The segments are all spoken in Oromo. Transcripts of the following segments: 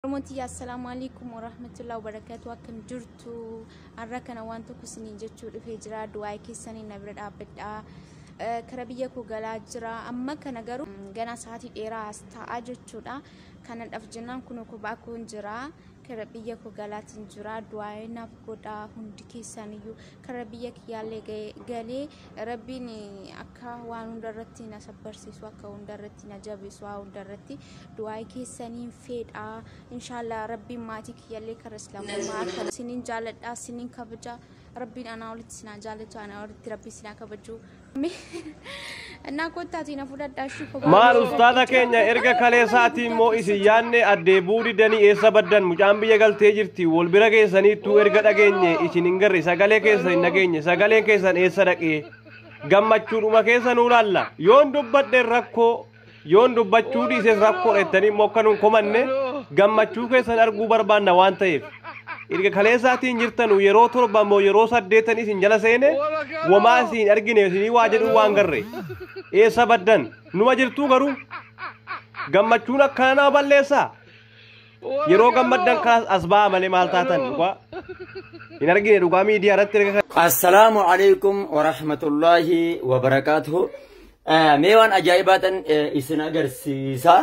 Oromoon tiyya assalaamu alaikum warahmatullahi wabarakatuh akkam jirtu har'a kana waan tokko isinii jechuu dhufee jira du'aa keessanii na bira dhaabbadha Eh, kara biyya koo galaa jira amma kana garuu mm, ganaa sa'aatii dheeraa as taa'aa jechuudha kanadhaaf jennaan kunoo kophaa koon jira kara biyya koo galaatiin jira du'aa naaf godha hundi keessaniyyuu kara biyya kiyyaallee ga'e- galee rabbiin eh, akka waan hundarratti na sabbarsiisu akka hundarratti na jabeessu waa hundarratti du'aa'ii keessaniin feedha inshaallah rabbiin maatii kiyyallee karra islaamummaa akka sinin jaaladha sinin kabaja rabbiin anaa olitti sinaa jaalatu anaa olitti rabbii sinaa kabaju እና ኮታቲ ነው ፉዳዳሽ maal ustaaza keenya erga kaleessaatii immoo isin yaanne addee buudi danii eessa baddan mucaan biyya galtee jirti wal bira keessaniittuu erga dhageenye isin hin garre sagalee keessan hin dhageenye sagaleen keessan eessa dhaqee gammachuudhuma keessa nuu laalla yoon dubbadhe rakkoo Yoon dubbachuu dhiises rakkoo dheettanii immoo akka nun komanne gammachuu keessan arguu barbaanna waan ta'eef. Erga kaleessaatiin jirtanu yeroo torba immoo yeroo saddeetan isin jala seene wamaa isin argine isinii waa jedhuu waan garre. Eessa baddan? Numa jirtuu garuu? Gammachuun akkanaa balleessaa? Yeroo gammaddan kaas as ba'aa malee maal taatan dhugaa. Hin argine dhugaa miidiyaa irratti erga kan. Assalaamu alaikum wa rahmatullaahi wa barakaatuhu. Eh, Mee waan ajaa'ibaatan eh, isin agarsiisa.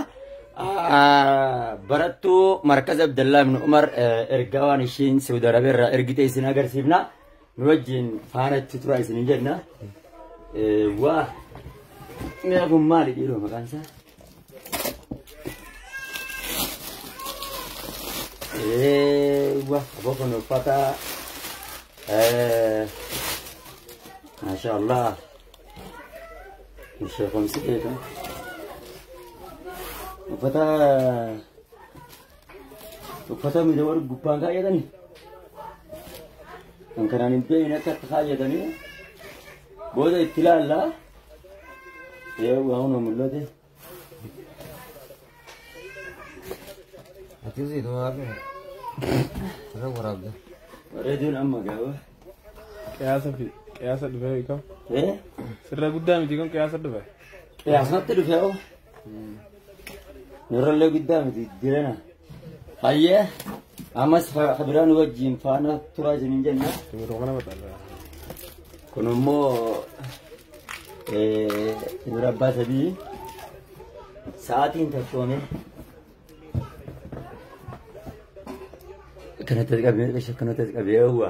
Ah, Barattuu Markaz Abdallaa ibn Umar eh, ergaa waan ishiin Saudi Arabia irraa ergite isin agarsiifna. nu wajjin faana itti turaa isin hin jenna. Waa mi'a kun maali dhiiroo maqaan isaa? Waa aboo kun uffata maashaa Allah ishee kun si beekan uffata uffata miidha warri gubbaan kaayatanii kan kanaan hin beekne akka itti kaayatanii booda itti ilaallaa ee waa hunda mul'ate Akkasii dhuma hafe. Irra waraabde. reediyoon amma gaaba Qiyaasa fi qiyaasa dhufee beekamu. ee Sirra guddaa miti kun qiyaasa dhufe. qiyaasnatti dhufee oo Nurrallee guddaa miti jirena. Hayyee ammas kabiraan wajjin faana turaa isiniin jenna. Kun immoo dura abbaa sadii sa'aatiin tokkoome. Kanatti qabee kanatti qabee hawwa.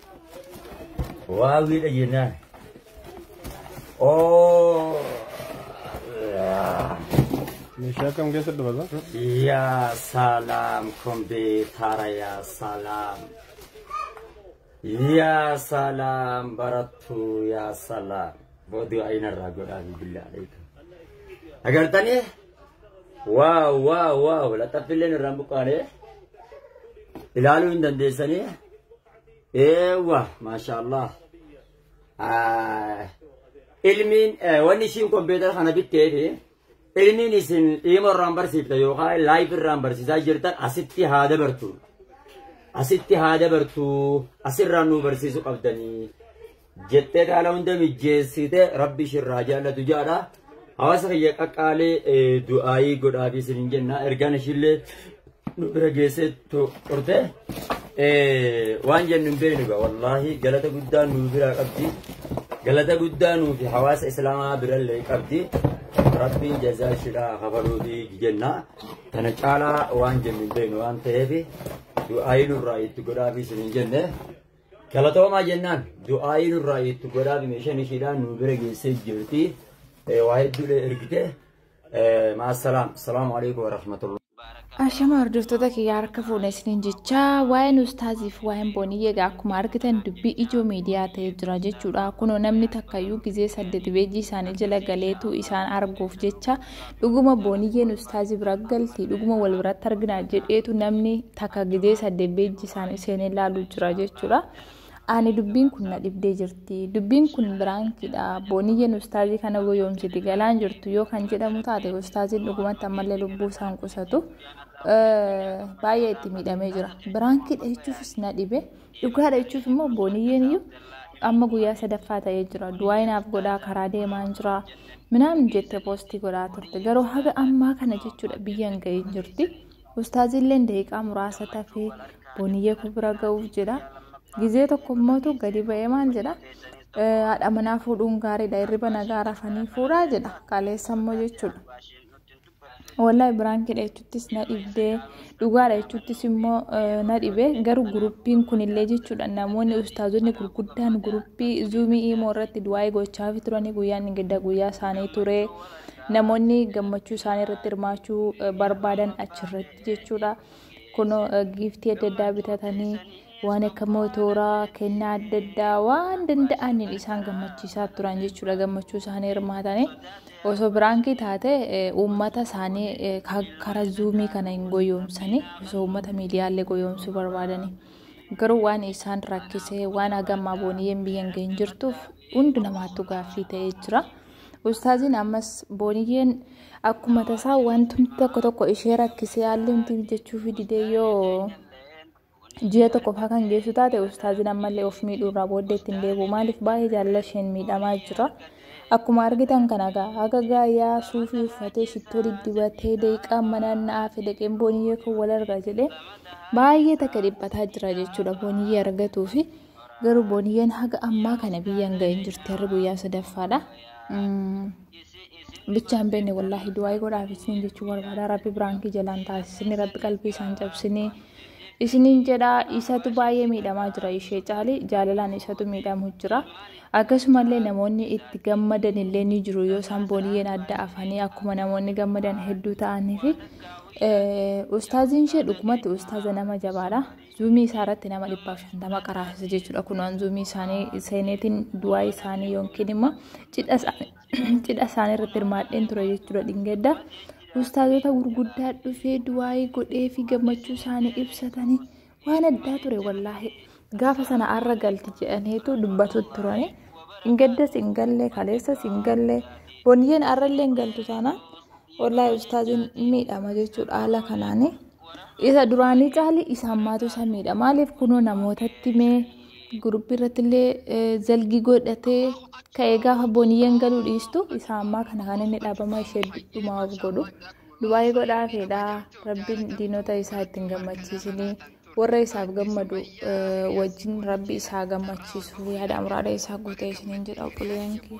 Waawwiidha jennaan. Oo. Meeshaa kam keessa dubata? Yaa salaam kompiitara yaa salaam. Yaa salaam barattuu yaa salaam. Booduu ayinarraa godhaa bilbilaa dheetu. Agartanii? Waaw waaw waaw laxaffilleen irraan buqqaanee ilaaluu hin dandeessanii Eewwa maashaallah. Ilmiin wanni ishiin kompiitara kana bitteef ilmiin isin dhiima irraan barsiifta yookaan laayif irraan barsiisaa jirtan asitti haa dabartu. Asitti haa dabartu asirraan nu barsiisuu qabdanii. jettee kana hunda mijjeessite rabbi ishirraa jaallatu jaadha. Hawaasa kiyya qaqqaalee du'aayii godhaa fi isin jenna ergaan ishiillee nu bira geessee turte. Waan jennu hin beeknu egaa wallaahi galata guddaa nu biraa qabdi. Galata guddaa nuu fi hawaasa islaamaa birallee qabdi. Rabbiin jazaa ishidhaa hafaluu fi jenna. Kana caalaa waan jennu hin beeknu waan ta'eef du'aayii nurraa itti godhaa fi isin jenne. Galatoomaa jennaan du'aayii nurraa itti godhaafi meeshaan ishiidhaan nu bira geessee jirti. Waa hedduudhee ergite. Maasalaam. Salaamu alaikum warahmatullahi. Ashama hordoftoota kiyyaa harka fuudhe isiniin jechaa waa'een ustaaziif waa'een booniyye egaa akkuma argitan dubbii ijoo miidiyaa ta'ee jira jechuudha. Kunoo namni takkayyuu gizee saddeet beejii isaanii jala galeetu isaan arguuf jecha Dhuguma booniyyeen ustaazi bira galti dhuguma wal biratti argina jedheetu namni takka gizee saddeet beejji isaanii seenee laaluu jira jechuudha. Ani dubbiin kun na dhibdee jirti. Dubbiin kun biraankiidha. Booniyyeen ustaazii kana goyoomsiti galaan jirtu yoo kan jedhamu taate ustaaziin dhugumatti ammallee lubbuu isaan qusatu baay'ee itti miidhamee jira. Biraankiidha jechuufis na dhibe. dhugaadha jechuuf immoo booniyyeen iyyuu amma guyyaa sadaffaa ta'ee jira du'aayi naaf godhaa karaa deemaan jira minaamin jette poostii godhaa turte garuu haga ammaa kana jechuudha biyyan ga'ee jirti ustaaziilleen daqiiqaa muraasa tafee booniyyee koo bira ga'uuf jedha gizee tokko immootu gadi ba'ee maal jedha haadha manaa fuudhuun gaariidha hirriba nagaa rafanii fuudhaa jedha kaleessa immoo jechuudha. Wallahi biraankidha jechuuttis na dhibdee dhugaadha jechuuttis immoo na dhibee garuu guruppiin kunillee jechuudha namoonni ustaazonni gurguddaan guruppii zuumii imoo irratti du'aa'ee gochaafi turanii guyyaan ingidda guyyaa isaanii ture namoonni gammachuu isaanii irratti hirmaachuu barbaadan achirratti jechuudha. kunoo giiftii adda addaa bitatanii waan akka mootooraa kennaa adda addaa waan danda'aniin isaan gammachiisaa turan jechuudha gammachuu isaanii hirmaatanii osoo biraankii taate uummata isaanii karaa zuumii kana hin goyoomsanii osoo uummata miidiyaalee goyoomsuu barbaadanii garuu waan isaan rakkisee waan hagammaa booniyyeen biyyan ga'in jirtuuf hundi namaattu gaaffii ta'ee jira. Ustaaziin ammas booniyyeen akkuma tasaa wanti tokko tokko ishee rakkisee haalli humti mijachuufi didee yoo ji'a tokko faa kan geessu taate ustaaziin ammallee of miidhuu irraa booddee ittiin deebi'u maaliif baay'ee jaalala isheen miidhamaa jira. Akkuma argitan kana gaa haga gaayaa suufii uffatee shittoo diddibatee daqiiqaa manaan na'aa fi daqeen booniyyee kan wal arga jedhee baay'ee takka dhiphataa jira jechuudha booniyyee argatuu fi Garuu booniyyeen haga ammaa kana biyyan ga'in jirti harri guyyaa sadaffaadha. Bichaan beenne wallaahi du'aa'ii godhaaf isiniin jechuu barbaada. Rabbi biraankii jalaan taasisni rabbi qalbii isaan cabsine isiniin jedha isatu baay'ee miidhamaa jira ishee caali jaalalaan isatu miidhamu jira. Akkasumallee namoonni itti gammadan illee ni jiru yoo isaan booniyyeen adda afanii akkuma namoonni gammadan hedduu ta'anii fi ustaaziin ishee dhugumatti ustaaza nama jabaadha. zuumii isaa irratti nama dhibbaaf shantama qaraasisa jechuudha. Kun an zuumii isaanii seeneetiin du'aa isaanii yookiin immoo cidha isaanii irratti hirmaadheen ture jechuudha dhingedda. Ustaazota gurguddaa dhufee du'aayii godhee fi gammachuu isaanii ibsatanii waan addaa ture wallaahi. Gaafa sana arra galti jedhaniitu dubbatu turani. Dhingeddas hin galle kaleessas hin galle boniyyeen arrallee hin galtu taanaan wallaahi ustaaziin miidhama jechuudha haala kanaanii. isa duraanii caalii isa ammaatu isa miidha maaliif kunoo namootatti mee guruppii irratti illee zalgi godhatee ka'ee gaafa booniyyeen galuu dhiistu isa ammaa kana kan inni dhaabama ishee dhumaa of godhu dubaayii godhaa feedhaa rabbiin diinota isaa ittiin gammachiisinii warra isaaf gammadu wajjin rabbi isaa gammachiisu yaada amraada isaa guutee isiniin jedha obboleeyyan kee.